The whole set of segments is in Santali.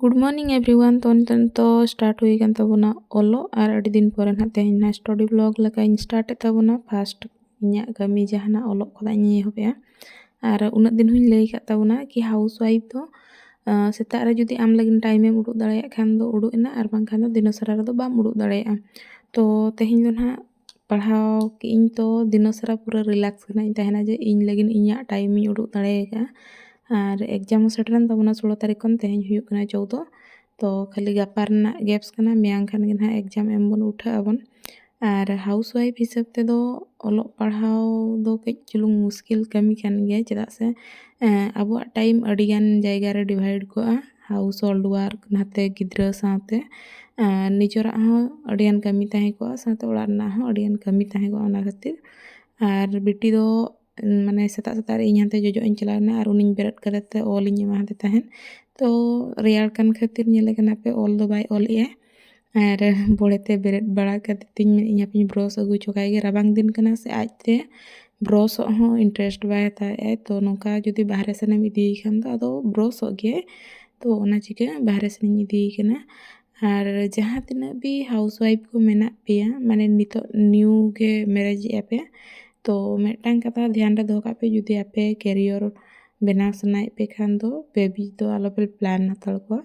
ᱜᱩᱰ ᱢᱚᱨᱱᱤᱝ ᱮᱵᱷᱨᱤᱣᱟᱱ ᱛᱚ ᱱᱤᱛᱚᱜ ᱫᱚ ᱥᱴᱟᱨᱴ ᱦᱩᱭ ᱟᱠᱟᱱ ᱛᱟᱵᱚᱱᱟ ᱚᱞᱚᱜ ᱟᱨ ᱟᱹᱰᱤ ᱫᱤᱱ ᱯᱚᱨᱮ ᱱᱟᱦᱟᱜ ᱛᱮᱦᱮᱧ ᱱᱟᱦᱟᱜ ᱥᱴᱟᱰᱤ ᱵᱞᱚᱜ ᱞᱮᱠᱟᱧ ᱥᱴᱟᱨᱴ ᱮᱫ ᱛᱟᱵᱚᱱᱟ ᱯᱷᱟᱥᱴ ᱤᱧᱟᱹᱜ ᱠᱟᱹᱢᱤ ᱡᱟᱦᱟᱱᱟᱜ ᱚᱞᱚᱜ ᱠᱷᱚᱱᱟᱜ ᱤᱧ ᱮᱦᱚᱵᱮᱜᱼᱟ ᱟᱨ ᱩᱱᱟᱹᱜ ᱫᱤᱱ ᱦᱚᱧ ᱞᱟᱹᱭ ᱟᱠᱟᱫ ᱛᱟᱵᱚᱱᱟ ᱠᱤ ᱦᱟᱣᱩᱥ ᱣᱟᱭᱤᱯᱷ ᱫᱚ ᱥᱮᱛᱟᱜ ᱨᱮ ᱡᱩᱫᱤ ᱟᱢ ᱞᱟᱹᱜᱤᱫ ᱴᱟᱭᱤᱢᱮᱢ ᱩᱰᱩᱠ ᱫᱟᱲᱮᱭᱟᱜ ᱠᱷᱟᱱ ᱫᱚ ᱩᱰᱩᱠ ᱮᱱᱟ ᱟᱨ ᱵᱟᱝᱠᱷᱟᱱ ᱫᱚ ᱫᱤᱱᱟᱹᱥᱟᱨᱟ ᱨᱮᱫᱚ ᱵᱟᱢ ᱩᱰᱩᱠ ᱫᱟᱲᱮᱭᱟᱜᱼᱟ ᱛᱚ ᱛᱮᱦᱮᱧ ᱫᱚ ᱱᱟᱦᱟᱜ ᱯᱟᱲᱦᱟᱣ ᱠᱮᱜ ᱟᱹᱧ ᱛᱚ ᱫᱤᱱᱟᱹ ᱥᱟᱨᱟ ᱯᱩᱨᱟᱹ ᱨᱤᱞᱮᱠᱥ ᱨᱮᱱᱟᱜ ᱤᱧ ᱛᱟᱦᱮᱱᱟ ᱡᱮ ᱤᱧ ᱞᱟᱹᱜᱤᱫ ᱤᱧᱟᱹᱜ ᱴᱟᱭᱤᱢ ᱤᱧ ᱩᱰᱩᱠ ᱫᱟᱲᱮ ᱠᱟᱜᱼᱟ ᱟᱨ ᱮᱠᱡᱟᱢ ᱦᱚᱸ ᱥᱮᱴᱮᱨᱮᱱ ᱛᱟᱵᱚᱱᱟ ᱥᱳᱞᱳ ᱛᱟᱹᱨᱤᱠᱷ ᱠᱷᱚᱱ ᱛᱮᱦᱮᱧ ᱦᱩᱭᱩᱜ ᱠᱟᱱᱟ ᱪᱳᱫᱫᱳ ᱛᱚ ᱠᱷᱟᱹᱞᱤ ᱜᱟᱯᱟ ᱨᱮᱱᱟᱜ ᱜᱮᱯᱥ ᱠᱟᱱᱟ ᱢᱮᱭᱟᱝ ᱠᱷᱟᱱ ᱜᱮ ᱦᱟᱸᱜ ᱮᱠᱡᱟᱢ ᱮᱢ ᱵᱚᱱ ᱩᱴᱷᱟᱹᱜ ᱟᱵᱚᱱ ᱟᱨ ᱦᱟᱣᱩᱥ ᱚᱣᱟᱭᱤᱯᱷ ᱦᱤᱥᱟᱹᱵ ᱛᱮᱫᱚ ᱚᱞᱚᱜ ᱯᱟᱲᱦᱟᱣ ᱫᱚ ᱠᱟᱹᱡ ᱪᱩᱞᱩᱝ ᱢᱩᱥᱠᱤᱞ ᱠᱟᱹᱢᱤ ᱠᱟᱱ ᱜᱮᱭᱟ ᱪᱮᱫᱟᱜ ᱥᱮ ᱟᱵᱚᱣᱟᱜ ᱴᱟᱭᱤᱢ ᱟᱹᱰᱤᱜᱟᱱ ᱡᱟᱭᱜᱟ ᱨᱮ ᱰᱤᱵᱷᱟᱭᱤᱰ ᱠᱚᱜᱼᱟ ᱦᱟᱣᱩᱥ ᱦᱳᱞᱰ ᱚᱣᱟᱨᱠ ᱱᱟᱛᱮ ᱜᱤᱫᱽᱨᱟᱹ ᱥᱟᱶᱛᱮ ᱱᱤᱡᱮᱨᱟᱜ ᱦᱚᱸ ᱟᱹᱰᱤᱜᱟᱱ ᱠᱟᱹᱢᱤ ᱛᱟᱦᱮᱸ ᱠᱚᱜᱼᱟ ᱥᱟᱶᱛᱮ ᱚᱲᱟᱜ ᱨᱮᱱᱟᱜ ᱦᱚᱸ ᱟᱹᱰᱤᱜᱟᱱ ᱠᱟᱹᱢᱤ ᱛᱟᱦᱮᱸ ᱠᱚᱜᱼᱟ ᱚᱱᱟ ᱠᱷᱟᱹᱛᱤᱨ ᱟᱨ ᱵᱤᱴᱤ ᱫᱚ ᱢᱟᱱᱮ ᱥᱮᱛᱟᱜ ᱥᱮᱛᱟᱜ ᱨᱮ ᱤᱧ ᱦᱟᱱᱛᱮ ᱡᱚᱡᱚᱜ ᱤᱧ ᱪᱟᱞᱟᱣ ᱮᱱᱟ ᱟᱨ ᱩᱱᱤᱧ ᱵᱮᱨᱮᱫ ᱠᱟᱛᱮᱫ ᱚᱞ ᱤᱧ ᱮᱢᱟᱫᱮ ᱛᱟᱦᱮᱸᱫ ᱛᱳ ᱨᱮᱭᱟᱲ ᱠᱟᱱ ᱠᱷᱟᱹᱛᱤᱨ ᱧᱮᱞᱮ ᱠᱟᱱᱟᱯᱮ ᱚᱞ ᱫᱚ ᱵᱟᱭ ᱚᱞᱮᱜᱼᱟ ᱟᱨ ᱵᱚᱲᱮ ᱛᱮ ᱵᱮᱨᱮᱫ ᱵᱟᱲᱟ ᱠᱟᱛᱮᱫ ᱛᱤᱧ ᱢᱮᱱᱮᱫ ᱟᱹᱧ ᱦᱟᱯᱮᱧ ᱵᱨᱚᱥ ᱟᱹᱜᱩ ᱦᱚᱪᱚ ᱠᱟᱭ ᱜᱮ ᱨᱟᱵᱟᱝ ᱫᱤᱱ ᱠᱟᱱᱟ ᱥᱮ ᱟᱡ ᱛᱮ ᱵᱨᱚᱥᱚᱜ ᱦᱚᱸ ᱤᱱᱴᱟᱨᱮᱥᱴ ᱵᱟᱭ ᱦᱟᱛᱟᱣ ᱮᱫᱼᱟ ᱛᱚ ᱱᱚᱝᱠᱟ ᱡᱩᱫᱤ ᱵᱟᱦᱨᱮ ᱥᱮᱱ ᱮᱢ ᱤᱫᱤᱭᱮ ᱠᱷᱟᱱ ᱫᱚ ᱟᱫᱚ ᱵᱨᱚᱥᱚᱜ ᱜᱮᱭᱟᱭ ᱛᱚ ᱚᱱᱟ ᱪᱤᱠᱟᱹ ᱵᱟᱦᱨᱮ ᱥᱮᱱᱤᱧ ᱤᱫᱤᱭᱮ ᱠᱟᱱᱟ ᱟᱨ ᱡᱟᱦᱟᱸ ᱛᱤᱱᱟᱹᱜ ᱜᱮ ᱦᱟᱣᱩᱥ ᱚᱣᱟᱭᱤᱯᱷ ᱠᱚ ᱢᱮᱱᱟᱜ ᱯᱮᱭᱟ ᱢᱟᱱᱮ ᱱᱤᱛᱚᱜ ᱱᱤᱭᱩ ᱜᱮ ᱢᱮᱨᱮᱡᱽ ᱮᱫᱼᱟ ᱯᱮ ᱛᱚ ᱢᱤᱫᱴᱟᱝ ᱠᱟᱛᱷᱟ ᱫᱷᱮᱭᱟᱱ ᱨᱮ ᱫᱚᱦᱚ ᱠᱟᱜ ᱯᱮ ᱡᱩᱫᱤ ᱟᱯᱮ ᱠᱮᱨᱤᱭᱚᱨ ᱵᱮᱱᱟᱣ ᱥᱟᱱᱟᱭᱮᱫ ᱯᱮ ᱠᱷᱟᱱ ᱫᱚ ᱵᱮᱵᱤ ᱫᱚ ᱟᱞᱚᱯᱮ ᱯᱞᱮᱱ ᱦᱟᱛᱟᱲ ᱠᱚᱣᱟ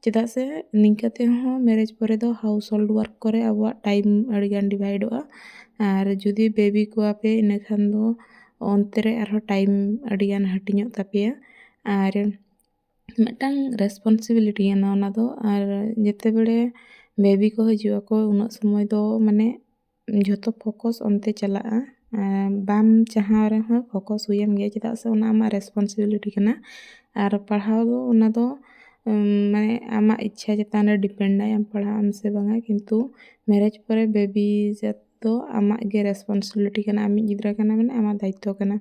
ᱪᱮᱫᱟᱜ ᱥᱮ ᱱᱤᱝᱠᱟᱹ ᱛᱮᱦᱚᱸ ᱢᱮᱨᱮᱡᱽ ᱯᱚᱨᱮ ᱫᱚ ᱦᱟᱣᱩᱥ ᱦᱳᱞᱰ ᱚᱣᱟᱨᱠ ᱠᱚᱨᱮ ᱟᱵᱚᱣᱟᱜ ᱴᱟᱭᱤᱢ ᱟᱹᱰᱤᱜᱟᱱ ᱰᱤᱵᱷᱟᱭᱤᱰᱚᱜᱼᱟ ᱟᱨ ᱡᱩᱫᱤ ᱵᱮᱵᱤ ᱠᱚᱣᱟᱯᱮ ᱤᱱᱟᱹ ᱠᱷᱟᱱ ᱫᱚ ᱚᱱᱛᱮ ᱨᱮ ᱟᱨᱦᱚᱸ ᱴᱟᱭᱤᱢ ᱟᱹᱰᱤᱜᱟᱱ ᱦᱟᱹᱴᱤᱧᱚᱜ ᱛᱟᱯᱮᱭᱟ ᱟᱨ ᱢᱤᱫᱴᱟᱝ ᱨᱮᱥᱯᱚᱱᱥᱤᱵᱤᱞᱤᱴᱤ ᱠᱟᱱᱟ ᱚᱱᱟᱫᱚ ᱟᱨ ᱡᱮᱛᱮ ᱵᱟᱲᱮ ᱵᱮᱵᱤ ᱠᱚ ᱦᱤᱡᱩᱜ ᱟᱠᱚ ᱩᱱᱟᱹᱜ ᱥᱚᱢᱚᱭ ᱫᱚ ᱢᱟᱱᱮ ᱡᱷᱚᱛᱚ ᱯᱷᱳᱠᱚᱥ ᱚᱱᱛᱮ ᱪᱟᱞᱟᱜᱼᱟ ᱵᱟᱢ ᱪᱟᱦᱟᱣ ᱨᱮᱦᱚᱸ ᱯᱷᱳᱠᱚᱥ ᱦᱩᱭᱟᱢ ᱜᱮᱭᱟ ᱪᱮᱫᱟᱜ ᱥᱮ ᱚᱱᱟ ᱟᱢᱟᱜ ᱨᱮᱥᱯᱚᱱᱥᱤᱵᱤᱞᱤᱴᱤ ᱠᱟᱱᱟ ᱟᱨ ᱯᱟᱲᱦᱟᱣ ᱫᱚ ᱚᱱᱟ ᱫᱚ ᱢᱟᱱᱮ ᱟᱢᱟᱜ ᱤᱪᱪᱷᱟ ᱪᱮᱛᱟᱱ ᱨᱮ ᱰᱤᱯᱮᱱᱰ ᱟᱭ ᱟᱢ ᱯᱟᱲᱦᱟᱜ ᱟᱢ ᱥᱮ ᱵᱟᱝᱟ ᱠᱤᱱᱛᱩ ᱢᱮᱨᱮᱡᱽ ᱯᱚᱨᱮ ᱵᱮᱵᱤ ᱡᱟᱹᱛ ᱫᱚ ᱟᱢᱟᱜ ᱜᱮ ᱨᱮᱥᱯᱚᱱᱥᱤᱵᱤᱞᱤᱴᱤ ᱠᱟᱱᱟ ᱟᱢᱤᱡ ᱜᱤᱫᱽᱨᱟᱹ ᱠᱟᱱᱟᱭ ᱢᱟᱱᱮ ᱟᱢᱟᱜ ᱫᱟᱭᱤᱛᱛᱚ ᱠᱟᱱᱟ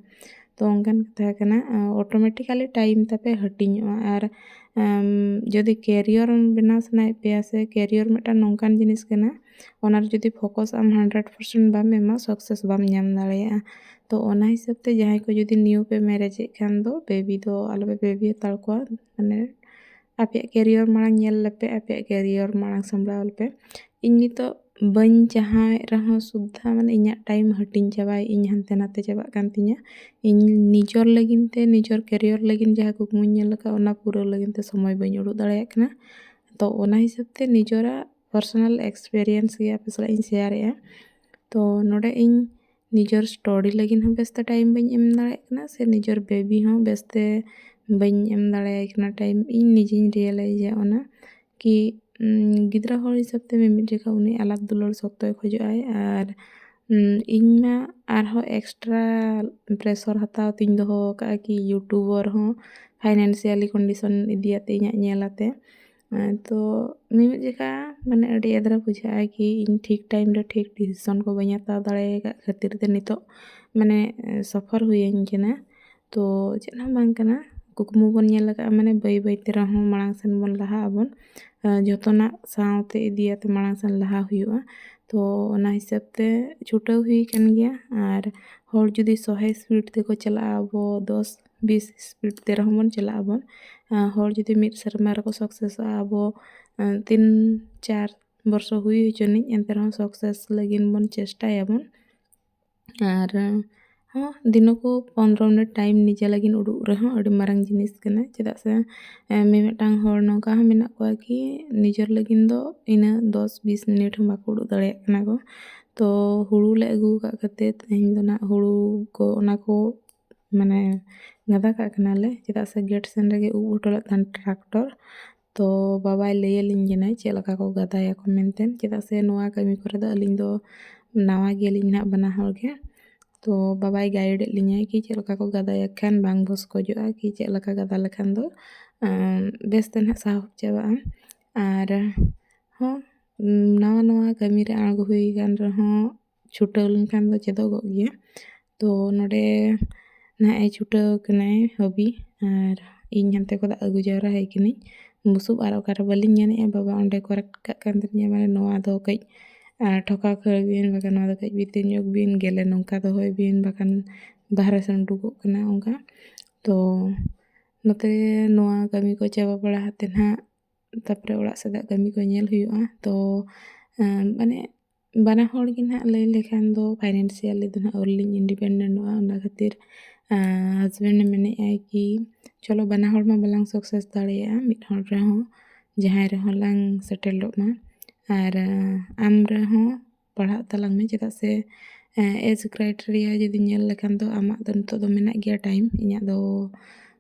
ᱛᱚ ᱚᱱᱠᱟᱱ ᱠᱟᱛᱷᱟ ᱠᱟᱱᱟ ᱚᱴᱳᱢᱮᱴᱤᱠᱟᱞᱤ ᱴᱟᱭᱤᱢ ᱛᱟᱯᱮ ᱦᱟᱹᱴᱤᱧᱚᱜᱼᱟ ᱟᱨ ᱡᱩᱫᱤ ᱠᱮᱨᱤᱭᱚᱨ ᱵᱮᱱᱟᱣ ᱥᱟᱱᱟᱭᱮᱫ ᱯᱮᱭᱟ ᱥᱮ ᱠᱮᱨᱤᱭᱚᱨ ᱢᱤᱫᱴᱟᱱ ᱱᱚᱝᱠᱟᱱ ᱡᱤᱱᱤᱥ ᱠᱟᱱᱟ ᱚᱱᱟᱨᱮ ᱡᱩᱫᱤ ᱯᱷᱳᱠᱚᱥ ᱟᱢ ᱦᱟᱱᱰᱨᱮᱰ ᱯᱟᱨᱥᱮᱱᱴ ᱵᱟᱢ ᱮᱢᱟ ᱥᱟᱠᱥᱮᱥ ᱵᱟᱢ ᱧᱟᱢ ᱫᱟᱲᱮᱭᱟᱜᱼᱟ ᱛᱚ ᱚᱱᱟ ᱦᱤᱥᱟᱹᱵᱽ ᱛᱮ ᱡᱟᱦᱟᱸᱭ ᱠᱚ ᱡᱩᱫᱤ ᱱᱤᱭᱩ ᱯᱮ ᱢᱮᱨᱮᱡᱽ ᱮᱫ ᱠᱷᱟᱱ ᱫᱚ ᱵᱮᱵᱤ ᱫᱚ ᱟᱞᱚᱯᱮ ᱵᱮᱵᱤ ᱦᱟᱛᱟᱲ ᱠᱚᱣᱟ ᱢᱟᱱᱮ ᱟᱯᱮᱭᱟᱜ ᱠᱮᱨᱤᱭᱟᱨ ᱢᱟᱲᱟᱝ ᱧᱮᱞ ᱞᱮᱯᱮ ᱟᱯᱮᱭᱟᱜ ᱠᱮᱨᱤᱭᱟᱨ ᱢᱟᱲᱟᱝ ᱥᱟᱢᱵᱽᱲᱟᱣ ᱞᱮᱯᱮ ᱤᱧ ᱱᱤᱛᱚᱜ ᱵᱟᱹᱧ ᱪᱟᱦᱟᱣᱮᱫ ᱨᱮᱦᱚᱸ ᱥᱩᱫᱽᱫᱷᱟᱹ ᱢᱟᱱᱮ ᱤᱧᱟᱹᱜ ᱴᱟᱭᱤᱢ ᱦᱟᱹᱴᱤᱧ ᱪᱟᱵᱟᱭᱮᱫ ᱤᱧ ᱦᱟᱱᱛᱮ ᱱᱟᱛᱮ ᱪᱟᱵᱟᱜ ᱠᱟᱱ ᱛᱤᱧᱟᱹ ᱤᱧ ᱱᱤᱡᱚᱨ ᱞᱟᱹᱜᱤᱫ ᱛᱮ ᱱᱤᱡᱚᱨ ᱠᱮᱨᱤᱭᱟᱨ ᱞᱟᱹᱜᱤᱫ ᱡᱟᱦᱟᱸ ᱠᱩᱠᱢᱩᱧ ᱧᱮᱞ ᱟᱠᱟᱫ ᱚᱱᱟ ᱯᱩᱨᱟᱹᱣ ᱞᱟᱹᱜᱤᱫ ᱛᱮ ᱥᱚᱢᱚᱭ ᱵᱟᱹᱧ ᱩᱰᱩᱠ ᱫᱟᱲᱮᱭᱟᱜ ᱠᱟᱱᱟ ᱛᱚ ᱚᱱᱟ ᱦᱤᱥᱟᱹᱵᱽ ᱛᱮ ᱱᱤᱡᱚᱨᱟᱜ ᱯᱟᱨᱥᱚᱱᱟᱞ ᱮᱠᱥᱯᱮᱨᱤᱭᱮᱱᱥ ᱜᱮ ᱟᱯᱮ ᱥᱟᱞᱟᱜ ᱤᱧ ᱥᱮᱭᱟᱨᱮᱜᱼᱟ ᱛᱚ ᱱᱚᱰᱮ ᱤᱧ ᱱᱤᱡᱮᱨ ᱥᱴᱚᱰᱤ ᱞᱟᱹᱜᱤᱫ ᱦᱚᱸ ᱵᱮᱥᱛᱮ ᱴᱟᱭᱤᱢ ᱵᱟᱹᱧ ᱮᱢ ᱫᱟᱲᱮᱭᱟᱜ ᱠᱟᱱᱟ ᱥᱮ ᱱᱤᱡᱮᱨ ᱵᱮᱵᱤ ᱦᱚᱸ ᱵᱮᱥᱛᱮ ᱵᱟᱹᱧ ᱮᱢ ᱫᱟᱲᱮᱭᱟᱭ ᱠᱟᱱᱟ ᱴᱟᱭᱤᱢ ᱤᱧ ᱱᱤᱡᱮᱧ ᱨᱤᱭᱮᱞᱟᱭᱤᱡᱟ ᱚᱱᱟ ᱠᱤ ᱜᱤᱫᱽᱨᱟᱹ ᱦᱚᱲ ᱦᱤᱥᱟᱹᱵ ᱛᱮ ᱢᱤᱢᱤᱫ ᱡᱚᱠᱷᱟ ᱩᱱᱤ ᱟᱞᱟᱫ ᱫᱩᱞᱟᱹᱲ ᱥᱚᱠᱛᱚᱭ ᱠᱷᱚᱡᱚᱜ ᱟᱭ ᱟᱨ ᱤᱧ ᱢᱟ ᱟᱨᱦᱚᱸ ᱮᱠᱥᱴᱨᱟ ᱯᱨᱮᱥᱚᱨ ᱦᱟᱛᱟᱣ ᱛᱤᱧ ᱫᱚᱦᱚ ᱟᱠᱟᱫᱼᱟ ᱠᱤ ᱤᱭᱩᱴᱩᱵᱟᱨ ᱦᱚᱸ ᱯᱷᱟᱭᱱᱮᱱᱥᱤᱭᱟᱞᱤ ᱠᱚᱱᱰᱤᱥᱚᱱ ᱤᱫᱤᱭᱟᱛᱮ ᱤᱧᱟᱹᱜ ᱧᱮᱞ ᱟᱛᱮ ᱛᱚ ᱢᱤᱢᱤᱫ ᱡᱚᱠᱷᱟ ᱢᱟᱱᱮ ᱟᱹᱰᱤ ᱮᱫᱽᱨᱮ ᱵᱩᱡᱷᱟᱹᱜᱼᱟ ᱠᱤ ᱤᱧ ᱴᱷᱤᱠ ᱴᱟᱭᱤᱢ ᱨᱮ ᱴᱷᱤᱠ ᱰᱤᱥᱤᱥᱚᱱ ᱠᱚ ᱵᱟᱹᱧ ᱦᱟᱛᱟᱣ ᱫᱟᱲᱮ ᱟᱠᱟᱫ ᱠᱷᱟᱹᱛᱤᱨ ᱛᱮ ᱱᱤᱛᱚᱜ ᱢᱟᱱᱮ ᱥᱚᱯᱷᱚᱨ ᱦᱩᱭᱟᱹᱧ ᱠᱟᱱᱟ ᱛᱚ ᱪᱮᱫ ᱦᱚᱸ ᱵᱟᱝ ᱠᱟᱱᱟ ᱠᱩᱠᱢᱩ ᱵᱚᱱ ᱧᱮᱞ ᱟᱠᱟᱫᱼᱟ ᱢᱟᱱᱮ ᱵᱟᱹᱭ ᱵᱟᱹᱭ ᱛᱮ ᱨᱮᱦᱚᱸ ᱢᱟᱲᱟᱝ ᱥᱮᱱ ᱵᱚᱱ ᱞᱟᱦᱟᱜ ᱟᱵᱚᱱ ᱡᱚᱛᱚᱱᱟᱜ ᱥᱟᱶᱛᱮ ᱤᱫᱤᱭᱟᱛᱮ ᱢᱟᱲᱟᱝ ᱥᱮᱱ ᱞᱟᱦᱟ ᱦᱩᱭᱩᱜᱼᱟ ᱛᱚ ᱚᱱᱟ ᱦᱤᱥᱟᱹᱵ ᱛᱮ ᱪᱷᱩᱴᱟᱹᱣ ᱦᱩᱭ ᱟᱠᱟᱱ ᱜᱮᱭᱟ ᱟᱨ ᱦᱚᱲ ᱡᱩᱫᱤ ᱥᱚᱦᱮ ᱥᱯᱤᱰ ᱛᱮᱠᱚ ᱪᱟᱞᱟᱜᱼᱟ ᱟᱵᱚ ᱫᱚᱥ ᱵᱤᱥ ᱤᱥᱯᱤᱰ ᱛᱮ ᱨᱮᱦᱚᱸ ᱵᱚᱱ ᱪᱟᱞᱟᱜ ᱟᱵᱚᱱ ᱦᱚᱲ ᱡᱩᱫᱤ ᱢᱤᱫ ᱥᱮᱨᱢᱟ ᱨᱮᱠᱚ ᱥᱟᱠᱥᱮᱥᱚᱜᱼᱟ ᱟᱵᱚ ᱛᱤᱱ ᱪᱟᱨ ᱵᱚᱨᱥᱚ ᱦᱩᱭ ᱦᱚᱪᱚᱱᱤᱡ ᱮᱱᱛᱮ ᱨᱮᱦᱚᱸ ᱥᱟᱠᱥᱮᱥ ᱞᱟᱹᱜᱤᱫ ᱵᱚᱱ ᱪᱮᱥᱴᱟᱭᱟᱵᱚᱱ ᱟᱨ ᱦᱚᱸ ᱫᱤᱱᱩᱠᱚ ᱯᱚᱱᱨᱚ ᱢᱤᱱᱤᱴ ᱴᱟᱭᱤᱢ ᱱᱤᱡᱮ ᱞᱟᱹᱜᱤᱫ ᱩᱰᱩᱠ ᱨᱮᱦᱚᱸ ᱟᱹᱰᱤ ᱢᱟᱨᱟᱝ ᱡᱤᱱᱤᱥ ᱠᱟᱱᱟ ᱪᱮᱫᱟᱜ ᱥᱮ ᱢᱤᱢᱤᱫᱴᱟᱝ ᱦᱚᱲ ᱱᱚᱝᱠᱟ ᱦᱚᱸ ᱢᱮᱱᱟᱜ ᱠᱚᱣᱟ ᱠᱤ ᱱᱤᱡᱮᱨ ᱞᱟᱹᱜᱤᱫ ᱫᱚ ᱤᱱᱟᱹ ᱫᱚᱥ ᱵᱤᱥ ᱢᱤᱱᱤᱴ ᱦᱚᱸ ᱵᱟᱠᱚ ᱩᱰᱩᱠ ᱫᱟᱲᱮᱭᱟᱜ ᱠᱟᱱᱟ ᱠᱚ ᱛᱚ ᱦᱳᱲᱳ ᱞᱮ ᱟᱹᱜᱩ ᱟᱠᱟᱫ ᱠᱷᱟᱹᱛᱤᱨ ᱛᱮᱦᱮᱧ ᱫᱚ ᱦᱟᱸᱜ ᱦᱳᱲᱳ ᱠᱚ ᱚᱱᱟ ᱠᱚ ᱢᱟᱱᱮ ᱜᱟᱫᱟ ᱠᱟᱜ ᱠᱟᱱᱟᱞᱮ ᱪᱮᱫᱟᱜ ᱥᱮ ᱜᱮᱴ ᱥᱮᱱ ᱨᱮᱜᱮ ᱩᱵ ᱦᱚᱴᱚ ᱞᱮᱫ ᱛᱟᱦᱮᱱ ᱴᱨᱟᱠᱴᱚᱨ ᱛᱚ ᱵᱟᱵᱟᱭ ᱞᱟᱹᱭ ᱟᱹᱞᱤᱧ ᱠᱟᱱᱟᱭ ᱪᱮᱫ ᱞᱮᱠᱟ ᱠᱚ ᱜᱟᱫᱟᱭᱟᱠᱚ ᱢᱮᱱᱛᱮ ᱪᱮᱫᱟᱜ ᱥᱮ ᱱᱚᱣᱟ ᱠᱟᱹᱢᱤ ᱠᱚᱨᱮ ᱫᱚ ᱟᱹᱞᱤᱧ ᱫᱚ ᱱᱟᱣᱟ ᱜᱮᱭᱟᱞᱤᱧ ᱱᱟᱦᱟᱜ ᱵᱟᱱᱟ ᱦᱚᱲ ᱜᱮ ᱛᱚ ᱵᱟᱵᱟᱭ ᱜᱟᱭᱤᱰᱮᱫ ᱞᱤᱧᱟᱹᱭ ᱠᱤ ᱪᱮᱫ ᱞᱮᱠᱟ ᱠᱚ ᱜᱟᱫᱟᱭᱟ ᱠᱷᱟᱱ ᱵᱟᱝ ᱵᱷᱚᱥᱠᱚᱡᱚᱜᱼᱟ ᱠᱤ ᱪᱮᱫ ᱞᱮᱠᱟ ᱜᱟᱫᱟ ᱞᱮᱠᱷᱟᱱ ᱫᱚ ᱵᱮᱥ ᱛᱮ ᱱᱟᱦᱟᱜ ᱥᱟᱦᱚᱵ ᱪᱟᱵᱟᱜᱼᱟ ᱟᱨ ᱦᱚᱸ ᱱᱟᱣᱟ ᱱᱟᱣᱟ ᱠᱟᱹᱢᱤ ᱨᱮ ᱟᱬᱜᱚ ᱦᱩᱭ ᱟᱠᱟᱱ ᱨᱮᱦᱚᱸ ᱪᱷᱩᱴᱟᱹᱣ ᱞᱮᱱᱠᱷᱟᱱ ᱫᱚ ᱪᱮᱫᱚᱜᱚᱜ ᱜᱮᱭᱟ ᱛᱚ ᱱᱚᱸᱰᱮ ᱱᱟᱦᱟᱜ ᱮ ᱪᱷᱩᱴᱟᱹᱣ ᱠᱟᱱᱟᱭ ᱦᱚᱵᱤ ᱟᱨ ᱤᱧ ᱦᱟᱱᱛᱮ ᱠᱷᱚᱱᱟᱜ ᱟᱹᱜᱩ ᱡᱟᱣᱨᱟ ᱟᱭ ᱠᱟᱹᱱᱟᱹᱧ ᱵᱩᱥᱩᱵ ᱟᱨ ᱚᱠᱟᱨᱮ ᱵᱟᱹᱞᱤᱧ ᱧᱟᱢᱮᱜᱼᱟ ᱵᱟᱵᱟ ᱚᱸᱰᱮ ᱠᱚᱨᱮᱠᱴ ᱠᱟᱜ ᱠᱟᱱ ᱛᱟᱹᱞᱤᱧᱟ ᱢᱟᱱᱮ ᱱᱚᱣᱟ ᱫᱚ ᱠᱟᱹᱡ ᱴᱷᱚᱠᱟᱣ ᱠᱷᱟᱹᱲ ᱵᱤᱱ ᱵᱟᱠᱷᱟᱱ ᱱᱚᱣᱟ ᱫᱚ ᱠᱟᱹᱡ ᱵᱷᱤᱛᱤᱨ ᱧᱚᱜᱽ ᱵᱤᱱ ᱜᱮᱞᱮ ᱱᱚᱝᱠᱟ ᱫᱚᱦᱚᱭ ᱵᱤᱱ ᱵᱟᱠᱷᱟᱱ ᱵᱟᱦᱨᱮ ᱥᱮᱱ ᱩᱰᱩᱠᱚᱜ ᱠᱟᱱᱟ ᱚᱱᱠᱟ ᱛᱚ ᱱᱚᱛᱮ ᱱᱚᱣᱟ ᱠᱟᱹᱢᱤ ᱠᱚ ᱪᱟᱵᱟ ᱵᱟᱲᱟ ᱠᱟᱛᱮᱫ ᱦᱟᱸᱜ ᱛᱟᱨᱯᱚᱨᱮ ᱚᱲᱟᱜ ᱥᱮᱫᱟᱜ ᱠᱟᱹᱢᱤ ᱠᱚ ᱧᱮᱞ ᱦᱩᱭᱩᱜᱼᱟ ᱛᱚ ᱢᱟᱱᱮ ᱵᱟᱱᱟ ᱦᱚᱲ ᱜᱮ ᱱᱟᱦᱟᱜ ᱞᱟᱹᱭ ᱞᱮᱠᱷᱟᱱ ᱫᱚ ᱯᱷᱟᱭᱱᱮᱱᱥᱤᱭᱟᱞᱤ ᱫᱚ ᱱᱟᱦᱟᱜ ᱟᱹᱣᱨᱤ ᱞᱤᱧ ᱤᱱᱰᱤᱯᱮᱱᱰᱮᱱᱴᱚᱜᱼᱟ ᱚᱱᱟ ᱠᱷᱟᱹᱛᱤᱨ ᱦᱟᱥᱵᱮᱱᱰ ᱮ ᱢᱮᱱᱮᱫ ᱟᱭ ᱠᱤ ᱪᱚᱞᱚ ᱵᱟᱱᱟ ᱦᱚᱲ ᱢᱟ ᱵᱟᱞᱟᱝ ᱥᱟᱠᱥᱮᱥ ᱫᱟᱲᱮᱭᱟᱜᱼᱟ ᱢᱤᱫ ᱦᱚᱲ ᱨᱮᱦᱚᱸ ᱡᱟᱦᱟᱸᱭ ᱨᱮᱦᱚᱸ ᱞᱟᱝ ᱥᱮᱴᱮᱞᱚᱜ ᱢᱟ ᱟᱨ ᱟᱢ ᱨᱮᱦᱚᱸ ᱯᱟᱲᱦᱟᱜ ᱛᱟᱞᱟᱝ ᱢᱮ ᱪᱮᱫᱟᱜ ᱥᱮ ᱮᱡᱽ ᱠᱨᱟᱭᱴᱮᱨᱤᱭᱟ ᱡᱩᱫᱤ ᱧᱮᱞ ᱞᱮᱠᱷᱟᱱ ᱫᱚ ᱟᱢᱟᱜ ᱫᱚ ᱱᱤᱛᱚᱜ ᱫᱚ ᱢᱮᱱᱟᱜ ᱜᱮᱭᱟ ᱴᱟᱭᱤᱢ ᱤᱧᱟᱹᱜ ᱫᱚ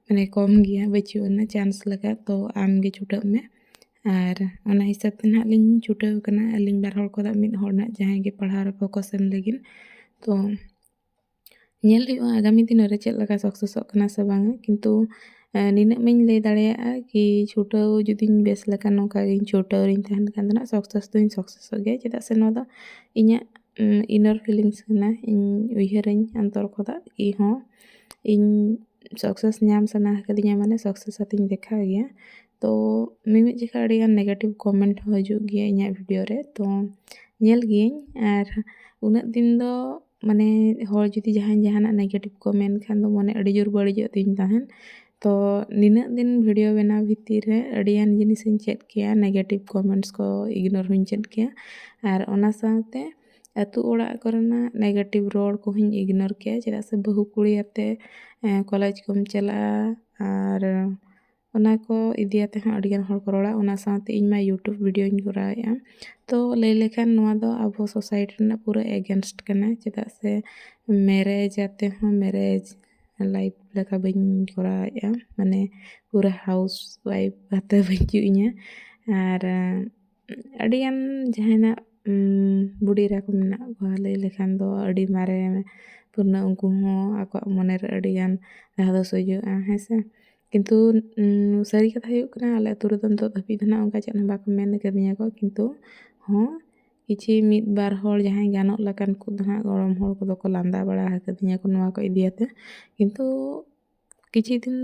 ᱢᱟᱱᱮ ᱠᱚᱢ ᱜᱮᱭᱟ ᱵᱟᱹᱪᱩᱜ ᱟᱱᱟ ᱪᱟᱱᱥ ᱞᱮᱠᱟ ᱛᱚ ᱟᱢᱜᱮ ᱪᱷᱩᱴᱟᱹᱜ ᱢᱮ ᱟᱨ ᱚᱱᱟ ᱦᱤᱥᱟᱹᱵ ᱛᱮ ᱱᱟᱦᱟᱜ ᱞᱤᱧ ᱪᱷᱩᱴᱟᱹᱣ ᱟᱠᱟᱱᱟ ᱟᱹᱞᱤᱧ ᱵᱟᱨ ᱦᱚᱲ ᱠᱷᱚᱱᱟᱜ ᱢᱤᱫ ᱦᱚᱲ ᱱᱟᱦᱟᱜ ᱡᱟᱦᱟᱸᱭ ᱜᱮ ᱯᱟᱲᱦᱟᱣ ᱨᱮ ᱯᱷᱳᱠᱟᱥ ᱮᱢ ᱞᱟᱹᱜᱤᱫ ᱛᱚ ᱧᱮᱞ ᱦᱩᱭᱩᱜᱼᱟ ᱟᱜᱟᱢᱤ ᱫᱤᱱ ᱨᱮ ᱪᱮᱫ ᱞᱮᱠᱟ ᱥᱟᱠᱥᱮᱥᱚᱜ ᱠᱟᱱᱟ ᱥᱮ ᱵᱟᱝᱟ ᱠᱤᱱᱛᱩ ᱱᱤᱱᱟᱹᱜ ᱢᱟᱧ ᱞᱟᱹᱭ ᱫᱟᱲᱮᱭᱟᱜᱼᱟ ᱠᱤ ᱪᱷᱩᱴᱟᱹᱣ ᱡᱩᱫᱤᱧ ᱵᱮᱥ ᱞᱮᱠᱟ ᱱᱚᱝᱠᱟ ᱜᱮ ᱪᱷᱩᱴᱟᱹᱣ ᱨᱤᱧ ᱛᱟᱦᱮᱱ ᱠᱷᱟᱱ ᱫᱚ ᱱᱟᱦᱟᱜ ᱥᱟᱠᱥᱮᱥ ᱫᱚᱧ ᱥᱟᱠᱥᱮᱥᱚᱜ ᱜᱮᱭᱟ ᱪᱮᱫᱟᱜ ᱥᱮ ᱱᱚᱣᱟ ᱫᱚ ᱤᱧᱟᱹᱜ ᱤᱱᱟᱨ ᱯᱷᱤᱞᱤᱝᱥ ᱠᱟᱱᱟ ᱤᱧ ᱩᱭᱦᱟᱹᱨᱟᱹᱧ ᱚᱱᱛᱚᱨ ᱠᱷᱚᱱᱟᱜ ᱠᱤ ᱦᱚᱸ ᱤᱧ ᱥᱟᱠᱥᱮᱥ ᱧᱟᱢ ᱥᱟᱱᱟ ᱟᱠᱟᱫᱤᱧᱟᱹ ᱢᱟᱱᱮ ᱥᱟᱠᱥᱮᱥ ᱟᱛᱮᱧ ᱫᱮᱠᱷᱟᱣ ᱜᱮᱭᱟ ᱛᱚ ᱢᱤᱢᱤᱫ ᱡᱚᱠᱷᱟᱡ ᱟᱹᱰᱤᱜᱟᱱ ᱱᱮᱜᱮᱴᱤᱵᱽ ᱠᱚᱢᱮᱱᱴ ᱦᱚᱸ ᱦᱤᱡᱩᱜ ᱜᱮᱭᱟ ᱤᱧᱟᱹᱜ ᱵᱷᱤᱰᱤᱭᱳ ᱨᱮ ᱛᱚ ᱧᱮᱞ ᱜᱤᱭᱟᱹᱧ ᱟᱨ ᱩᱱᱟᱹᱜ ᱫᱤᱱ ᱫᱚ ᱢᱟᱱᱮ ᱦᱚᱲ ᱡᱩᱫᱤ ᱡᱟᱦᱟᱸᱭ ᱡᱟᱦᱟᱱᱟᱜ ᱱᱮᱜᱮᱴᱤᱵᱽ ᱠᱚ ᱢᱮᱱ ᱠᱷᱟᱱ ᱫᱚ ᱢᱚᱱᱮ ᱟᱹᱰᱤ ᱡᱳᱨ ᱵᱟᱹᱲᱤᱡᱚᱜ ᱛᱤᱧ ᱛᱟᱦᱮᱸᱫ ᱛᱚ ᱱᱤᱱᱟᱹᱜ ᱫᱤᱱ ᱵᱷᱤᱰᱤᱭᱳ ᱵᱮᱱᱟᱣ ᱵᱷᱤᱛᱤᱨ ᱨᱮ ᱟᱹᱰᱤᱜᱟᱱ ᱡᱤᱱᱤᱥᱤᱧ ᱪᱮᱫ ᱠᱮᱭᱟ ᱱᱮᱜᱮᱴᱤᱵᱽ ᱠᱚᱢᱮᱱᱴᱥ ᱠᱚ ᱤᱜᱽᱱᱳᱨ ᱦᱚᱸᱧ ᱪᱮᱫ ᱠᱮᱭᱟ ᱟᱨ ᱚᱱᱟ ᱥᱟᱶᱛᱮ ᱟᱹᱛᱩ ᱚᱲᱟᱜ ᱠᱚᱨᱮᱱᱟᱜ ᱱᱮᱜᱮᱴᱤᱵᱽ ᱨᱚᱲ ᱠᱚᱦᱚᱸᱧ ᱤᱜᱽᱱᱳᱨ ᱠᱮᱭᱟ ᱪᱮᱫᱟᱜ ᱥᱮ ᱵᱟᱹᱦᱩ ᱠᱩᱲᱤᱭᱟᱛᱮ ᱠᱚᱞᱮᱡᱽ ᱠᱚᱢ ᱪᱟᱞᱟᱜᱼᱟ ᱟᱨ ᱚᱱᱟ ᱠᱚ ᱤᱫᱤᱭᱟᱛᱮ ᱦᱚᱸ ᱟᱹᱰᱤ ᱜᱟᱱ ᱦᱚᱲ ᱠᱚ ᱨᱚᱲᱟ ᱚᱱᱟ ᱥᱟᱶᱛᱮ ᱤᱧ ᱢᱟ ᱤᱭᱩᱴᱩᱵᱽ ᱵᱷᱤᱰᱭᱳᱧ ᱠᱚᱨᱟᱣᱮᱫᱼᱟ ᱛᱚ ᱞᱟᱹᱭ ᱞᱮᱠᱷᱟᱱ ᱱᱚᱣᱟ ᱫᱚ ᱟᱵᱚ ᱥᱳᱥᱟᱭᱤᱴᱤ ᱨᱮᱱᱟᱜ ᱯᱩᱨᱟᱹ ᱮᱜᱮᱱᱥᱴ ᱠᱟᱱᱟ ᱪᱮᱫᱟᱜ ᱥᱮ ᱢᱮᱨᱮᱡᱽ ᱟᱛᱮᱫ ᱦᱚᱸ ᱢᱮᱨᱮᱡᱽ ᱞᱟᱭᱤᱯᱷ ᱞᱮᱠᱟ ᱵᱟᱹᱧ ᱠᱚᱨᱟᱣᱮᱫᱼᱟ ᱢᱟᱱᱮ ᱯᱩᱨᱟᱹ ᱦᱟᱣᱩᱥ ᱚᱣᱟᱭᱤᱯᱷ ᱠᱟᱛᱮᱫ ᱦᱚᱸ ᱵᱟᱹᱪᱩᱜ ᱤᱧᱟᱹ ᱟᱨ ᱟᱹᱰᱤ ᱜᱟᱱ ᱡᱟᱦᱟᱱᱟᱜ ᱵᱩᱰᱤ ᱮᱨᱟ ᱠᱚ ᱢᱮᱱᱟᱜ ᱠᱚᱣᱟ ᱞᱟᱹᱭ ᱞᱮᱠᱷᱟᱱ ᱫᱚ ᱟᱹᱰᱤ ᱢᱟᱨᱮ ᱯᱩᱨᱱᱚ ᱩᱱᱠᱩ ᱦᱚᱸ ᱟᱠᱚᱣᱟᱜ ᱢᱚᱱᱮ ᱨᱮ ᱟᱹᱰᱤ ᱜᱟᱱ ᱫᱷᱟᱫᱚᱥ ᱦᱤᱡᱩᱜᱼᱟ ᱦᱮᱸ ᱥᱮ ᱠᱤᱱᱛᱩ ᱥᱟᱹᱨᱤ ᱠᱟᱛᱷᱟ ᱦᱩᱭᱩᱜ ᱠᱟᱱᱟ ᱟᱞᱮ ᱟᱹᱛᱩ ᱨᱮᱫᱚ ᱱᱤᱛᱚᱜ ᱫᱷᱟᱹᱵᱤᱡ ᱫᱚ ᱱᱟᱜ ᱚᱱᱠᱟ ᱪᱮᱫ ᱦᱚᱸ ᱵᱟᱠᱚ ᱢᱮᱱ ᱠᱟᱹᱫᱤᱧᱟ ᱠᱚ ᱠᱤᱱᱛᱩ ᱦᱚᱸ ᱠᱤᱪᱷᱤ ᱢᱤᱫ ᱵᱟᱨ ᱦᱚᱲ ᱡᱟᱦᱟᱸᱭ ᱜᱟᱱᱚᱜ ᱞᱮᱠᱟᱱ ᱠᱚ ᱫᱚ ᱱᱟᱜ ᱜᱚᱲᱚᱢ ᱦᱚᱲ ᱠᱚᱫᱚ ᱠᱚ ᱞᱟᱸᱫᱟ ᱵᱟᱲᱟ ᱠᱟᱹᱫᱤᱧᱟ ᱠᱚ ᱱᱚᱣᱟ ᱠᱚ ᱤᱫᱤᱭᱟᱛᱮ ᱠᱤᱱᱛᱩ ᱠᱤᱪᱷᱩ ᱫᱤᱱ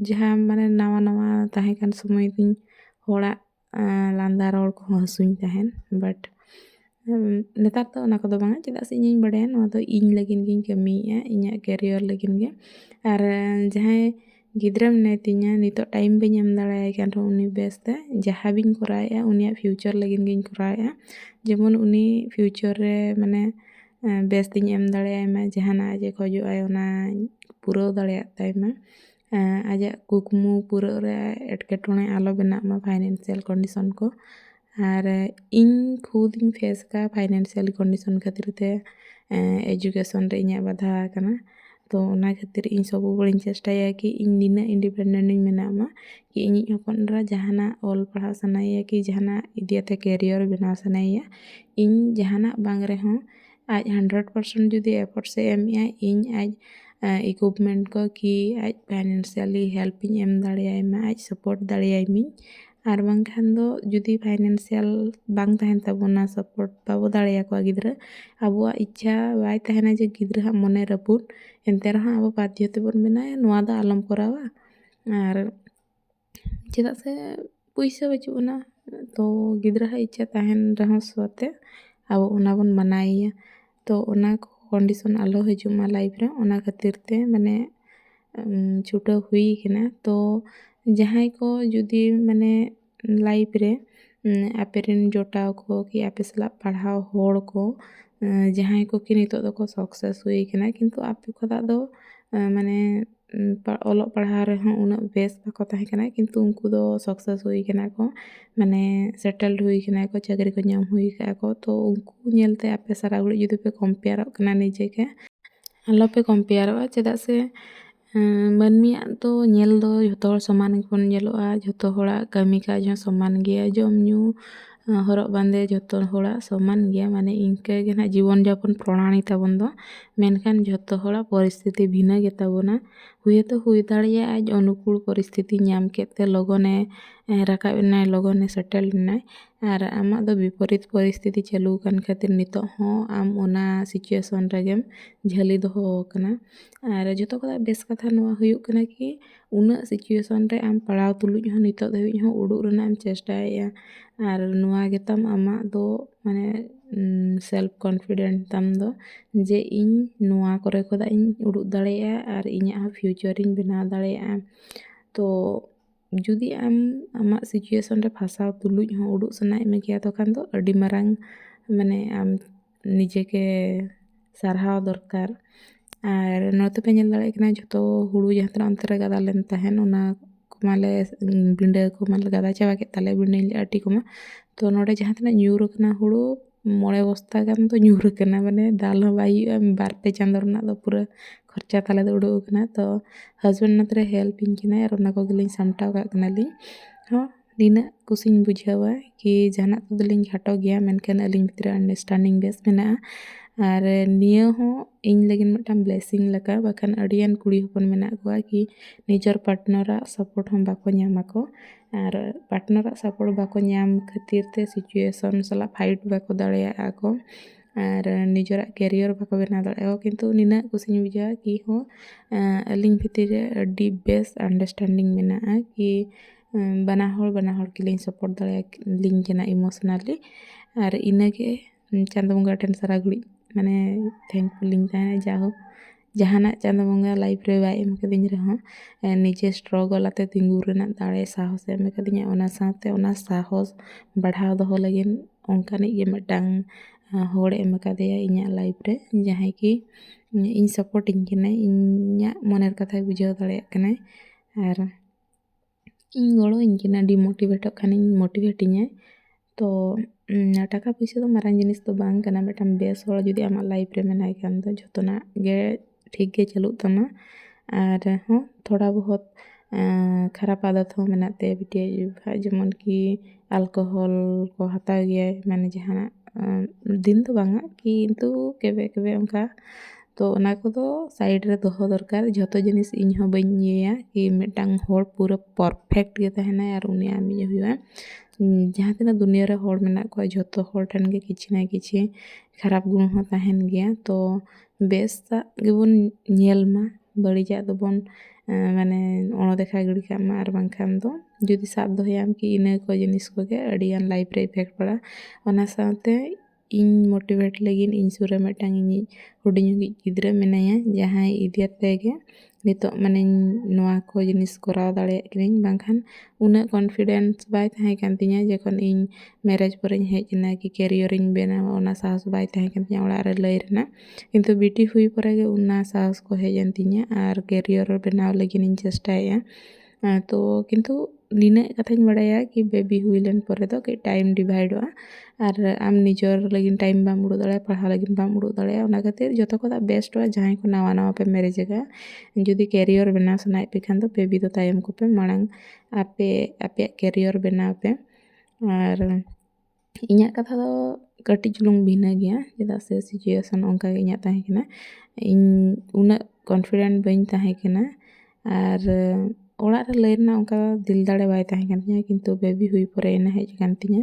ᱡᱟᱦᱟᱸ ᱢᱟᱱᱮ ᱱᱟᱣᱟ ᱱᱟᱣᱟ ᱛᱟᱦᱮᱸ ᱠᱟᱱ ᱥᱚᱢᱚᱭ ᱫᱚᱧ ᱦᱚᱲᱟᱜ ᱞᱟᱸᱫᱟ ᱨᱚᱲ ᱠᱚᱦᱚᱸ ᱦᱟᱹᱥᱩᱧ ᱛᱟᱦᱮᱱ ᱵᱟᱴ ᱱᱮᱛᱟᱨ ᱫᱚ ᱚᱱᱟ ᱠᱚᱫᱚ ᱵᱟᱝᱟ ᱪᱮᱫᱟᱜ ᱥᱮ ᱤᱧᱤᱧ ᱵᱟᱲᱟᱭᱟ ᱱᱚᱣᱟ ᱫᱚ ᱤᱧ ᱞᱟᱹᱜᱤᱫ ᱜᱤᱧ ᱠᱟᱹᱢᱤᱭᱮᱫᱼᱟ ᱤᱧᱟᱹᱜ ᱠᱮᱨᱤᱭᱟᱨ ᱞᱟᱹᱜᱤᱫ ᱜᱮ ᱟᱨ ᱡᱟᱦᱟᱸᱭ ᱜᱤᱫᱽᱨᱟᱹ ᱢᱮᱱᱟᱭ ᱛᱤᱧᱟᱹ ᱱᱤᱛᱚᱜ ᱴᱟᱭᱤᱢ ᱵᱟᱹᱧ ᱮᱢ ᱫᱟᱲᱮᱭᱟᱭ ᱠᱟᱱ ᱨᱮᱦᱚᱸ ᱩᱱᱤ ᱵᱮᱥ ᱛᱮ ᱡᱟᱦᱟᱸ ᱜᱤᱧ ᱠᱚᱨᱟᱣᱮᱫᱼᱟ ᱩᱱᱤᱭᱟᱜ ᱯᱷᱤᱭᱩᱪᱟᱨ ᱞᱟᱹᱜᱤᱫ ᱜᱤᱧ ᱠᱚᱨᱟᱣᱮᱫᱼᱟ ᱡᱮᱢᱚᱱ ᱩᱱᱤ ᱯᱷᱤᱭᱩᱪᱟᱨ ᱨᱮ ᱢᱟᱱᱮ ᱵᱮᱥ ᱛᱤᱧ ᱮᱢ ᱫᱟᱲᱮᱭᱟᱭ ᱢᱟ ᱡᱟᱦᱟᱱᱟᱜ ᱜᱮ ᱠᱷᱚᱡᱚᱜ ᱟᱭ ᱚᱱᱟᱧ ᱯᱩᱨᱟᱹᱣ ᱫᱟᱲᱮᱭᱟᱜ ᱛᱟᱭ ᱢᱟ ᱟᱡᱟᱜ ᱠᱩᱠᱢᱩ ᱯᱩᱨᱟᱹᱜ ᱨᱮ ᱮᱴᱠᱮᱴᱚᱬᱮ ᱟᱞᱚ ᱵᱮᱱᱟᱜ ᱢᱟ ᱯᱷᱟᱭᱱᱮᱱᱥᱤᱭᱟᱞ ᱠᱚᱱᱰᱤᱥᱚᱱ ᱠᱚ ᱟᱨ ᱤᱧ ᱠᱷᱩᱫ ᱤᱧ ᱯᱷᱮᱥ ᱟᱠᱟᱫᱟ ᱯᱷᱟᱭᱱᱮᱱᱥᱤᱭᱟᱞ ᱠᱚᱱᱰᱤᱥᱚᱱ ᱠᱷᱟᱹᱛᱤᱨ ᱛᱮ ᱮᱰᱩᱠᱮᱥᱚᱱ ᱨᱮ ᱤᱧᱟᱹᱜ ᱵᱟᱫᱷᱟ ᱟᱠᱟᱱᱟ ᱛᱳ ᱚᱱᱟ ᱠᱷᱟᱹᱛᱤᱨ ᱤᱧ ᱥᱚᱵᱽ ᱦᱚᱲᱤᱧ ᱪᱮᱥᱴᱟᱭᱟ ᱠᱤ ᱤᱧ ᱱᱤᱱᱟᱹᱜ ᱤᱱᱰᱤᱯᱮᱱᱰᱮᱱᱴ ᱤᱧ ᱵᱮᱱᱟᱜ ᱢᱟ ᱠᱤ ᱤᱧᱤᱡ ᱦᱚᱯᱚᱱ ᱮᱨᱟ ᱡᱟᱦᱟᱱᱟᱜ ᱚᱞ ᱯᱟᱲᱦᱟᱣ ᱥᱟᱱᱟᱭᱮᱭᱟ ᱠᱤ ᱡᱟᱦᱟᱱᱟᱜ ᱤᱫᱤ ᱠᱟᱛᱮᱫ ᱠᱮᱨᱤᱭᱟᱨ ᱵᱮᱱᱟᱣ ᱥᱟᱱᱟᱭᱮᱭᱟ ᱤᱧ ᱡᱟᱦᱟᱱᱟᱜ ᱵᱟᱝ ᱨᱮᱦᱚᱸ ᱟᱡ ᱦᱟᱱᱰᱨᱮᱰ ᱯᱟᱨᱥᱮᱱᱴ ᱡᱩᱫᱤ ᱮᱯᱷᱳᱨᱴᱥ ᱮ ᱮᱢ ᱮᱫᱟᱭ ᱤᱧ ᱟᱡ ᱤᱠᱩᱯᱢᱮᱱᱴ ᱠᱚ ᱠᱤ ᱟᱡ ᱯᱷᱟᱭᱱᱮᱱᱥᱤᱭᱟᱞᱤ ᱦᱮᱞᱯ ᱤᱧ ᱮᱢ ᱫᱟᱲᱮᱭᱟᱭ ᱢᱟ ᱟᱡ ᱥᱟᱯᱳᱨᱴ ᱫᱟᱲᱮᱭᱟᱭ ᱢᱟᱹᱧ ᱟᱨ ᱵᱟᱝᱠᱷᱟᱱ ᱫᱚ ᱡᱩᱫᱤ ᱯᱷᱟᱭᱱᱮᱱᱥᱤᱭᱟᱞ ᱵᱟᱝ ᱛᱟᱦᱮᱱ ᱛᱟᱵᱚᱱᱟ ᱥᱟᱯᱳᱨᱴ ᱵᱟᱵᱚ ᱫᱟᱲᱮᱭᱟᱠᱚᱣᱟ ᱜᱤᱫᱽᱨᱟᱹ ᱟᱵᱚᱣᱟᱜ ᱤᱪᱪᱷᱟ ᱵᱟᱭ ᱛᱟᱦᱮᱱᱟ ᱡᱮ ᱜᱤᱫᱽᱨᱟᱹ ᱦᱟᱸᱜ ᱢᱚᱱᱮ ᱨᱟᱹᱯᱩᱫ ᱮᱱᱛᱮ ᱨᱮᱦᱚᱸ ᱟᱵᱚ ᱵᱟᱫᱽᱫᱷᱚ ᱛᱮᱵᱚᱱ ᱢᱮᱱᱟ ᱱᱚᱣᱟ ᱫᱚ ᱟᱞᱚᱢ ᱠᱚᱨᱟᱣᱟ ᱟᱨ ᱪᱮᱫᱟᱜ ᱥᱮ ᱯᱩᱭᱥᱟᱹ ᱵᱟᱹᱪᱩᱜ ᱟᱱᱟ ᱛᱚ ᱜᱤᱫᱽᱨᱟᱹ ᱦᱚᱸ ᱤᱪᱪᱷᱟᱹ ᱛᱟᱦᱮᱱ ᱨᱮᱦᱚᱸ ᱥᱚ ᱛᱮ ᱟᱵᱚ ᱚᱱᱟ ᱵᱚᱱ ᱢᱟᱱᱟᱭᱮᱭᱟ ᱛᱚ ᱚᱱᱟ ᱠᱚ ᱠᱚᱱᱰᱤᱥᱚᱱ ᱟᱞᱚ ᱦᱤᱡᱩᱜ ᱢᱟ ᱞᱟᱭᱤᱯᱷ ᱨᱮ ᱚᱱᱟ ᱠᱷᱟᱹᱛᱤᱨ ᱛᱮ ᱢᱟᱱᱮ ᱪᱷᱩᱴᱟᱹᱣ ᱦᱩᱭ ᱠᱟᱱᱟ ᱛᱚ ᱡᱟᱦᱟᱸᱭ ᱠᱚ ᱡᱩᱫᱤ ᱢᱟᱱᱮ ᱞᱟᱭᱤᱯᱷ ᱨᱮ ᱟᱯᱮ ᱨᱮᱱ ᱡᱚᱴᱟᱣ ᱠᱚ ᱠᱤ ᱟᱯᱮ ᱥᱟᱞᱟᱜ ᱯᱟᱲᱦᱟᱣ ᱦᱚᱲ ᱠᱚ ᱡᱟᱦᱟᱸᱭ ᱠᱚ ᱠᱤ ᱱᱤᱛᱚᱜ ᱫᱚᱠᱚ ᱥᱟᱠᱥᱮᱥ ᱦᱩᱭ ᱠᱟᱱᱟ ᱠᱤᱱᱛᱩ ᱟᱯᱮ ᱠᱷᱚᱱᱟᱜ ᱫᱚ ᱢᱟᱱᱮ ᱚᱞᱚᱜ ᱯᱟᱲᱦᱟᱣ ᱨᱮᱦᱚᱸ ᱩᱱᱟᱹᱜ ᱵᱮᱥ ᱵᱟᱠᱚ ᱛᱟᱦᱮᱸ ᱠᱟᱱᱟ ᱠᱤᱱᱛᱩ ᱩᱱᱠᱩ ᱫᱚ ᱥᱟᱠᱥᱮᱥ ᱦᱩᱭ ᱠᱟᱱᱟ ᱠᱚ ᱢᱟᱱᱮ ᱥᱮᱴᱮᱞ ᱦᱩᱭ ᱠᱟᱱᱟ ᱠᱚ ᱪᱟᱹᱠᱨᱤ ᱠᱚ ᱧᱟᱢ ᱦᱩᱭ ᱠᱟᱜᱼᱟ ᱠᱚ ᱛᱚ ᱩᱱᱠᱩ ᱧᱮᱞ ᱛᱮ ᱟᱯᱮ ᱥᱟᱨᱟ ᱜᱷᱟᱹᱲᱤᱡ ᱡᱩᱫᱤ ᱯᱮ ᱠᱚᱢᱯᱮᱭᱟᱨᱚᱜ ᱠᱟᱱᱟ ᱱᱤᱡᱮ ᱜᱮ ᱟᱞᱚ ᱯᱮ ᱠᱚᱢᱯᱮᱭᱟᱨᱚᱜᱼᱟ ᱪᱮᱫᱟᱜ ᱥᱮ ᱢᱟᱹᱱᱢᱤᱭᱟᱜ ᱫᱚ ᱧᱮᱞ ᱫᱚ ᱡᱷᱚᱛᱚ ᱦᱚᱲ ᱥᱚᱢᱟᱱ ᱜᱮᱵᱚᱱ ᱧᱮᱞᱚᱜᱼᱟ ᱡᱷᱚᱛᱚ ᱦᱚᱲᱟᱜ ᱠᱟᱹᱢᱤ ᱠᱟᱡᱽ ᱦᱚᱸ ᱥᱚᱢᱟᱱ ᱜᱮᱭᱟ ᱡᱚᱢᱼᱧᱩ ᱦᱚᱨᱚᱜ ᱵᱟᱸᱫᱮ ᱡᱚᱛᱚ ᱦᱚᱲᱟᱜ ᱥᱚᱢᱟᱱ ᱜᱮᱭᱟ ᱢᱟᱱᱮ ᱤᱱᱠᱟᱹ ᱜᱮ ᱱᱟᱦᱟᱜ ᱡᱤᱵᱚᱱ ᱡᱟᱯᱚᱱ ᱯᱨᱚᱱᱟᱞᱤ ᱛᱟᱵᱚᱱ ᱫᱚ ᱢᱮᱱᱠᱷᱟᱱ ᱡᱚᱛᱚ ᱦᱚᱲᱟᱜ ᱯᱚᱨᱤᱥᱛᱷᱤᱛᱤ ᱵᱷᱤᱱᱟᱹ ᱜᱮᱛᱟ ᱵᱚᱱᱟ ᱦᱩᱭ ᱫᱚ ᱦᱩᱭ ᱫᱟᱲᱮᱭᱟᱜᱼᱟ ᱟᱡ ᱚᱱᱩᱠᱩᱞ ᱯᱚᱨᱤᱥᱛᱷᱤᱛᱤ ᱧᱟᱢ ᱠᱮᱫ ᱛᱮ ᱞᱚᱜᱚᱱᱮ ᱨᱟᱠᱟᱵ ᱮᱱᱟᱭ ᱞᱚᱜᱚᱱᱮ ᱥᱮᱴᱮᱞ ᱮᱱᱟᱭ ᱟᱨ ᱟᱢᱟᱜ ᱫᱚ ᱵᱤᱯᱚᱨᱤᱛ ᱯᱚᱨᱤᱥᱛᱷᱤᱛᱤ ᱪᱟᱹᱞᱩ ᱟᱠᱟᱱ ᱠᱷᱟᱹᱛᱤᱨ ᱱᱤᱛᱚᱜ ᱦᱚᱸ ᱟᱢ ᱚᱱᱟ ᱥᱤᱪᱩᱭᱮᱥᱚᱱ ᱨᱮᱜᱮᱢ ᱡᱷᱟᱹᱞᱤ ᱫᱚᱦᱚ ᱟᱠᱟᱱᱟ ᱟᱨ ᱡᱚᱛᱚ ᱠᱷᱚᱱᱟᱜ ᱵᱮᱥ ᱠᱟᱛᱷᱟ ᱱᱚᱣᱟ ᱦᱩᱭᱩᱜ ᱠᱟᱱᱟ ᱠᱤ ᱩᱱᱟᱹᱜ ᱥᱤᱪᱩᱭᱮᱥᱚᱱ ᱨᱮ ᱟᱢ ᱯᱟᱲᱟᱣ ᱛᱩᱞᱩᱡ ᱦᱚᱸ ᱱᱤᱛᱚᱜ ᱫᱷᱟᱹᱵᱤᱡ ᱦᱚᱸ ᱩᱰᱩᱜ ᱨᱮᱱᱟᱜ ᱮᱢ ᱪᱮᱥᱴᱟᱭᱮᱫᱼᱟ ᱟᱨ ᱱᱚᱣᱟ ᱜᱮᱛᱟᱢ ᱟᱢᱟᱜ ᱫᱚ ᱢᱟᱱᱮ ᱥᱮᱞᱯᱷ ᱠᱚᱱᱯᱷᱤᱰᱮᱱᱴ ᱛᱟᱢ ᱫᱚ ᱡᱮ ᱤᱧ ᱱᱚᱣᱟ ᱠᱚᱨᱮ ᱠᱷᱚᱱᱟᱜ ᱤᱧ ᱩᱰᱩᱜ ᱫᱟᱲᱮᱭᱟᱜᱼᱟ ᱟᱨ ᱤᱧᱟᱹᱜ ᱦᱚᱸ ᱯᱷᱤᱭᱩᱪᱟᱨ ᱤᱧ ᱵᱮᱱᱟᱣ ᱫᱟᱲᱮᱭᱟᱜᱼᱟ ᱛᱚ ᱡᱩᱫᱤ ᱟᱢ ᱟᱢᱟᱜ ᱥᱤᱪᱩᱭᱮᱥᱚᱱ ᱨᱮ ᱯᱷᱟᱥᱟᱣ ᱛᱩᱞᱩᱡ ᱦᱚᱸ ᱩᱰᱩᱜ ᱥᱟᱱᱟᱭᱮᱫ ᱢᱮᱜᱮᱭᱟ ᱛᱚᱠᱷᱚᱱ ᱫᱚ ᱟᱹᱰᱤ ᱢᱟᱨᱟᱝ ᱢᱟᱱᱮ ᱟᱢ ᱱᱤᱡᱮᱜᱮ ᱥᱟᱨᱦᱟᱣ ᱫᱚᱨᱠᱟᱨ ᱟᱨ ᱱᱚᱛᱮ ᱯᱮ ᱧᱮᱞ ᱫᱟᱲᱮᱭᱟᱜ ᱠᱟᱱᱟ ᱡᱷᱚᱛᱚ ᱦᱩᱲᱩ ᱡᱟᱦᱟᱸ ᱛᱤᱱᱟᱹᱜ ᱚᱱᱛᱮ ᱨᱮ ᱜᱟᱫᱟ ᱞᱮᱱ ᱛᱟᱦᱮᱱ ᱚᱱᱟ ᱠᱚᱢᱟᱞᱮ ᱵᱤᱸᱰᱟᱹ ᱠᱚᱢᱟᱞᱮ ᱜᱟᱫᱟ ᱪᱟᱵᱟ ᱠᱮᱫ ᱛᱟᱞᱮ ᱵᱤᱸᱰᱟᱹᱧ ᱞᱮᱫᱼᱟ ᱟᱹᱴᱤ ᱠᱚᱢᱟ ᱛᱳ ᱱᱚᱰᱮ ᱡᱟᱦᱟᱸ ᱛᱤᱱᱟᱹᱜ ᱧᱩᱨ ᱠᱟᱱᱟ ᱦᱩᱲᱩ ᱢᱚᱬᱮ ᱵᱚᱥᱛᱟ ᱜᱟᱱ ᱫᱚ ᱧᱩᱨ ᱠᱟᱱᱟ ᱢᱟᱱᱮ ᱫᱟᱞ ᱦᱚᱸ ᱵᱟᱭ ᱦᱩᱭᱩᱜᱼᱟ ᱵᱟᱨ ᱯᱮ ᱪᱟᱸᱫᱚ ᱨᱮᱱᱟᱜ ᱫᱚ ᱯᱩᱨᱟᱹ ᱠᱷᱚᱨᱪᱟ ᱛᱟᱞᱮ ᱫᱚ ᱩᱰᱩᱠ ᱟᱠᱟᱱᱟ ᱛᱳ ᱦᱟᱥᱵᱮᱱᱰ ᱱᱚᱛᱮᱨᱮ ᱦᱮᱞᱯ ᱤᱧ ᱠᱟᱱᱟᱭ ᱟᱨ ᱚᱱᱟ ᱠᱚᱜᱮᱞᱤᱧ ᱥᱟᱢᱴᱟᱣ ᱠᱟᱜ ᱠᱟᱱᱟᱞᱤᱧ ᱦᱚᱸ ᱱᱤᱱᱟᱹᱜ ᱠᱩᱥᱤᱧ ᱵᱩᱡᱷᱟᱹᱣᱟ ᱠᱤ ᱡᱟᱦᱟᱱᱟᱜ ᱛᱮᱫᱚ ᱞᱤᱧ ᱠᱷᱟᱴᱚ ᱜᱮᱭᱟ ᱢᱮᱱᱠᱷᱟᱱ ᱟᱹᱞᱤᱧ ᱵᱷᱤᱛᱨᱤ ᱨᱮ ᱟᱱᱰᱟᱨᱥᱴᱮᱱᱰᱤᱝ ᱵᱮᱥ ᱢᱮᱱᱟᱜᱼᱟ ᱟᱨ ᱱᱤᱭᱟᱹ ᱦᱚᱸ ᱤᱧ ᱞᱟᱹᱜᱤᱫ ᱢᱤᱫᱴᱟᱝ ᱵᱞᱮᱥᱤᱝ ᱞᱮᱠᱟ ᱵᱟᱠᱷᱟᱱ ᱟᱹᱰᱤᱜᱟᱱ ᱠᱩᱲᱤ ᱦᱚᱯᱚᱱ ᱢᱮᱱᱟᱜ ᱠᱚᱣᱟ ᱠᱤ ᱱᱤᱡᱮᱨ ᱯᱟᱨᱴᱱᱟᱨ ᱟᱜ ᱥᱟᱯᱳᱨᱴ ᱦᱚᱸ ᱵᱟᱠᱚ ᱧᱟᱢ ᱟᱠᱚ ᱟᱨ ᱯᱟᱨᱴᱱᱟᱨ ᱟᱜ ᱥᱟᱯᱳᱨᱴ ᱵᱟᱠᱚ ᱧᱟᱢ ᱠᱷᱟᱹᱛᱤᱨ ᱛᱮ ᱥᱤᱪᱩᱭᱮᱥᱚᱱ ᱥᱟᱞᱟᱜ ᱯᱷᱟᱭᱤᱴ ᱵᱟᱠᱚ ᱫᱟᱲᱮᱭᱟᱜᱼᱟ ᱠᱚ ᱟᱨ ᱱᱤᱡᱮᱨᱟᱜ ᱠᱮᱨᱤᱭᱟᱨ ᱵᱟᱠᱚ ᱵᱮᱱᱟᱣ ᱫᱟᱲᱮᱭᱟᱜᱼᱟ ᱠᱚ ᱠᱤᱱᱛᱩ ᱱᱤᱱᱟᱹᱜ ᱠᱩᱥᱤᱧ ᱵᱩᱡᱷᱟᱹᱣᱟ ᱠᱤ ᱦᱚᱸ ᱟᱹᱞᱤᱧ ᱵᱷᱤᱛᱤᱨ ᱨᱮ ᱟᱹᱰᱤ ᱵᱮᱥ ᱟᱱᱰᱟᱨᱥᱴᱮᱱᱰᱤᱝ ᱢᱮᱱᱟᱜᱼᱟ ᱠᱤ ᱵᱟᱱᱟ ᱦᱚᱲ ᱵᱟᱱᱟ ᱦᱚᱲ ᱜᱮᱞᱤᱧ ᱥᱟᱯᱳᱨᱴ ᱫᱟᱲᱮᱭᱟᱞᱤᱧ ᱠᱟᱱᱟ ᱤᱢᱳᱥᱳᱱᱟᱞᱤ ᱟᱨ ᱤᱱᱟᱹᱜᱮ ᱪᱟᱸᱫᱚ ᱵᱚᱸᱜᱟ ᱴᱷᱮᱱ ᱥᱟᱨᱟ ᱜᱷᱟᱹᱲᱤᱡ ᱢᱟᱱᱮ ᱛᱷᱮᱝᱠ ᱯᱷᱩᱞ ᱞᱤᱧ ᱛᱟᱦᱮᱱᱟ ᱡᱟ ᱦᱳᱠ ᱡᱟᱦᱟᱱᱟᱜ ᱪᱟᱸᱫᱚ ᱵᱚᱸᱜᱟ ᱞᱟᱭᱤᱯᱷ ᱨᱮ ᱵᱟᱭ ᱮᱢ ᱠᱟᱹᱫᱤᱧ ᱨᱮᱦᱚᱸ ᱱᱤᱡᱮ ᱥᱴᱨᱚᱜᱚᱞ ᱟᱛᱮᱫ ᱛᱤᱸᱜᱩ ᱨᱮᱱᱟᱜ ᱫᱟᱲᱮ ᱥᱟᱦᱚᱥ ᱮᱢ ᱠᱟᱹᱫᱤᱧᱟ ᱚᱱᱟ ᱥᱟᱶᱛᱮ ᱚᱱᱟ ᱥᱟᱦᱚᱥ ᱵᱟᱲᱦᱟᱣ ᱫᱚᱦᱚ ᱞᱟᱹᱜᱤᱫ ᱚᱱᱠᱟᱱᱤᱡ ᱜᱮ ᱢᱤᱫᱴᱟᱝ ᱦᱚᱲ ᱮᱢ ᱠᱟᱫᱮᱭᱟᱭ ᱤᱧᱟᱹᱜ ᱞᱟᱭᱤᱯᱷ ᱨᱮ ᱡᱟᱦᱟᱸᱭ ᱠᱤ ᱤᱧ ᱥᱟᱯᱳᱨᱴᱤᱧ ᱠᱟᱱᱟᱭ ᱤᱧᱟᱹᱜ ᱢᱚᱱᱮᱨ ᱠᱟᱛᱷᱟᱭ ᱵᱩᱡᱷᱟᱹᱣ ᱫᱟᱲᱮᱭᱟᱜ ᱠᱟᱱᱟᱭ ᱟᱨ ᱤᱧ ᱜᱚᱲᱚᱣᱟᱹᱧ ᱠᱟᱱᱟᱭ ᱟᱹᱰᱤ ᱢᱳᱴᱤᱵᱷᱮᱴᱚᱜ ᱠᱟᱱᱟᱭ ᱢᱳᱴᱤᱵᱷᱮᱴᱤᱧᱟᱭ ᱛᱚ ᱴᱟᱠᱟ ᱯᱩᱭᱥᱟᱹ ᱫᱚ ᱢᱟᱨᱟᱝ ᱡᱤᱱᱤᱥ ᱫᱚ ᱵᱟᱝ ᱠᱟᱱᱟ ᱢᱤᱫᱴᱟᱝ ᱵᱮᱥ ᱦᱚᱲ ᱡᱩᱫᱤ ᱟᱢᱟᱜ ᱞᱟᱭᱤᱯᱷ ᱨᱮ ᱢᱮᱱᱟᱭ ᱠᱷᱟᱱ ᱫᱚ ᱡᱷᱚᱛᱚᱱᱟᱜ ᱜᱮ ᱴᱷᱤᱠ ᱜᱮ ᱪᱟᱹᱞᱩᱜ ᱛᱟᱢᱟ ᱟᱨ ᱦᱚᱸ ᱛᱷᱚᱲᱟ ᱵᱚᱦᱚᱛ ᱠᱷᱟᱨᱟᱯ ᱟᱫᱚᱛ ᱦᱚᱸ ᱢᱮᱱᱟᱜ ᱛᱟᱭᱟ ᱵᱤᱴᱤᱭᱟᱜ ᱤᱭᱟᱹ ᱠᱷᱟᱡ ᱡᱮᱢᱚᱱ ᱠᱤ ᱮᱞᱠᱳᱦᱚᱞ ᱠᱚ ᱦᱟᱛᱟᱣ ᱜᱮᱭᱟᱭ ᱢᱟᱱᱮ ᱡᱟᱦᱟᱱᱟᱜ ᱫᱤᱱ ᱫᱚ ᱵᱟᱝᱟ ᱠᱤᱱᱛᱩ ᱠᱮᱵᱮ ᱠᱮᱵᱮ ᱚᱱᱠᱟ ᱛᱚ ᱚᱱᱟ ᱠᱚᱫᱚ ᱥᱟᱭᱤᱰ ᱨᱮ ᱫᱚᱦᱚ ᱫᱚᱨᱠᱟᱨ ᱡᱷᱚᱛᱚ ᱡᱤᱱᱤᱥ ᱤᱧ ᱦᱚᱸ ᱵᱟᱹᱧ ᱤᱭᱟᱹᱭᱟ ᱠᱤ ᱢᱤᱫᱴᱟᱝ ᱦᱚᱲ ᱯᱩᱨᱟᱹ ᱯᱟᱨᱯᱷᱮᱠᱴ ᱜᱮ ᱛᱟᱦᱮᱱᱟᱭ ᱟᱨ ᱩᱱᱤ ᱟᱢᱤᱡ ᱮ ᱦᱩᱭᱩᱜᱼᱟ ᱡᱟᱦᱟᱸ ᱛᱤᱱᱟᱹᱜ ᱫᱩᱱᱤᱭᱟᱹ ᱨᱮ ᱦᱚᱲ ᱢᱮᱱᱟᱜ ᱠᱚᱣᱟ ᱡᱷᱚᱛᱚ ᱦᱚᱲ ᱴᱷᱮᱱ ᱜᱮ ᱠᱤᱪᱷᱤ ᱱᱟ ᱠᱤᱪᱷᱤ ᱠᱷᱟᱨᱟᱯ ᱜᱩᱱ ᱦᱚᱸ ᱛᱟᱦᱮᱱ ᱜᱮᱭᱟ ᱛᱚ ᱵᱮᱥᱟᱜ ᱜᱮᱵᱚᱱ ᱧᱮᱞ ᱢᱟ ᱵᱟᱹᱲᱤᱡᱟᱜ ᱫᱚᱵᱚᱱ ᱢᱟᱱᱮ ᱚᱬᱚᱫᱮᱠᱷᱟ ᱜᱤᱰᱤ ᱠᱟᱜ ᱢᱟ ᱟᱨ ᱵᱟᱝᱠᱷᱟᱱ ᱫᱚ ᱡᱩᱫᱤ ᱥᱟᱵ ᱫᱚᱦᱚᱭᱟᱢ ᱠᱤ ᱤᱱᱟᱹ ᱠᱚ ᱡᱤᱱᱤᱥ ᱠᱚᱜᱮ ᱟᱹᱰᱤᱜᱟᱱ ᱞᱟᱭᱤᱯᱷ ᱨᱮ ᱤᱯᱷᱮᱠᱴ ᱯᱟᱲᱟᱜᱼᱟ ᱚᱱᱟ ᱥᱟᱶᱛᱮ ᱤᱧ ᱢᱳᱴᱤᱵᱷᱮᱴ ᱞᱟᱹᱜᱤᱫ ᱤᱧ ᱥᱩᱨ ᱨᱮ ᱢᱤᱫᱴᱟᱝ ᱤᱧᱤᱡ ᱦᱩᱰᱤᱧ ᱧᱚᱜᱤᱡ ᱜᱤᱫᱽᱨᱟᱹ ᱢᱮᱱᱟᱭᱟ ᱡᱟᱦᱟᱸᱭ ᱤᱫᱤ ᱠᱟᱛᱮ ᱜᱮ ᱱᱤᱛᱚᱜ ᱢᱟᱱᱮᱧ ᱱᱚᱣᱟ ᱠᱚ ᱡᱤᱱᱤᱥ ᱠᱚᱨᱟᱣ ᱫᱟᱲᱮᱭᱟᱜ ᱠᱟᱹᱱᱟᱹᱧ ᱵᱟᱝᱠᱷᱟᱱ ᱩᱱᱟᱹᱜ ᱠᱚᱱᱯᱷᱤᱰᱮᱱᱥ ᱵᱟᱭ ᱛᱟᱦᱮᱸ ᱠᱟᱱ ᱛᱤᱧᱟᱹ ᱡᱚᱠᱷᱚᱱ ᱤᱧ ᱢᱮᱨᱮᱡᱽ ᱯᱚᱨᱮᱧ ᱦᱮᱡ ᱮᱱᱟ ᱠᱤ ᱠᱮᱨᱤᱭᱚᱨ ᱤᱧ ᱵᱮᱱᱟᱣᱟ ᱚᱱᱟ ᱥᱟᱦᱚᱥ ᱵᱟᱭ ᱛᱟᱦᱮᱸ ᱠᱟᱱ ᱛᱤᱧᱟᱹ ᱚᱲᱟᱜ ᱨᱮ ᱞᱟᱹᱭ ᱨᱮᱱᱟᱜ ᱠᱤᱱᱛᱩ ᱵᱤᱴᱤ ᱦᱩᱭ ᱯᱚᱨᱮ ᱜᱮ ᱚᱱᱟ ᱥᱟᱦᱚᱥ ᱠᱚ ᱦᱮᱡ ᱮᱱ ᱛᱤᱧᱟᱹ ᱟᱨ ᱠᱮᱨᱤᱭᱚᱨ ᱵᱮᱱᱟᱣ ᱞᱟᱹᱜᱤᱫ ᱤᱧ ᱪᱮᱥᱴᱟᱭᱮᱫᱼᱟ ᱛᱚ ᱠᱤᱱᱛᱩ ᱱᱤᱱᱟᱹᱜ ᱠᱟᱛᱷᱟᱧ ᱵᱟᱲᱟᱭᱟ ᱠᱤ ᱵᱮᱵᱤ ᱦᱩᱭ ᱞᱮᱱ ᱯᱚᱨᱮ ᱫᱚ ᱠᱟᱹᱡ ᱴᱟᱭᱤᱢ ᱰᱤᱵᱷᱟᱭᱤᱰᱚᱜᱼᱟ ᱟᱨ ᱟᱢ ᱱᱤᱡᱮᱨ ᱞᱟᱹᱜᱤᱫ ᱴᱟᱭᱤᱢ ᱵᱟᱢ ᱩᱰᱩᱠ ᱫᱟᱲᱮᱭᱟᱜᱼᱟ ᱯᱟᱲᱦᱟᱣ ᱞᱟᱹᱜᱤᱫ ᱵᱟᱢ ᱩᱰᱩᱠ ᱫᱟᱲᱮᱭᱟᱜᱼᱟ ᱚᱱᱟ ᱠᱷᱟᱹᱛᱤᱨ ᱡᱚᱛᱚ ᱠᱷᱚᱱᱟᱜ ᱵᱮᱥᱴᱚᱜᱼᱟ ᱡᱟᱦᱟᱸᱭ ᱠᱚ ᱱᱟᱣᱟ ᱱᱟᱣᱟ ᱯᱮ ᱢᱮᱨᱮᱡᱽ ᱠᱟᱜᱼᱟ ᱡᱩᱫᱤ ᱠᱮᱨᱤᱭᱚᱨ ᱵᱮᱱᱟᱣ ᱥᱟᱱᱟᱭᱮᱫ ᱯᱮ ᱠᱷᱟᱱ ᱫᱚ ᱵᱮᱵᱤ ᱫᱚ ᱛᱟᱭᱚᱢ ᱠᱚᱯᱮ ᱢᱟᱲᱟᱝ ᱟᱯᱮ ᱟᱯᱮᱭᱟᱜ ᱠᱮᱨᱤᱭᱚᱨ ᱵᱮᱱᱟᱣ ᱯᱮ ᱟᱨ ᱤᱧᱟᱹᱜ ᱠᱟᱛᱷᱟ ᱫᱚ ᱠᱟᱹᱴᱤᱡ ᱪᱩᱞᱩᱝ ᱵᱷᱤᱱᱟᱹ ᱜᱮᱭᱟ ᱪᱮᱫᱟᱜ ᱥᱮ ᱥᱤᱪᱩᱭᱮᱥᱚᱱ ᱚᱱᱠᱟ ᱜᱮ ᱤᱧᱟᱹᱜ ᱛᱟᱦᱮᱸ ᱠᱟᱱᱟ ᱤᱧ ᱩᱱᱟᱹᱜ ᱠᱚᱱᱯᱷᱤᱰᱮᱱᱴ ᱵᱟᱹᱧ ᱛᱟᱦᱮᱸ ᱠᱟᱱᱟ ᱟᱨ ᱚᱲᱟᱜ ᱨᱮ ᱞᱟᱹᱭ ᱨᱮᱱᱟᱜ ᱚᱱᱠᱟ ᱫᱤᱞ ᱫᱟᱲᱮ ᱵᱟᱭ ᱛᱟᱦᱮᱸ ᱠᱟᱱ ᱛᱤᱧᱟᱹ ᱠᱤᱱᱛᱩ ᱵᱮᱵᱤ ᱦᱩᱭ ᱯᱚᱨᱮ ᱮᱱᱮ ᱦᱮᱡ ᱠᱟᱱ ᱛᱤᱧᱟᱹ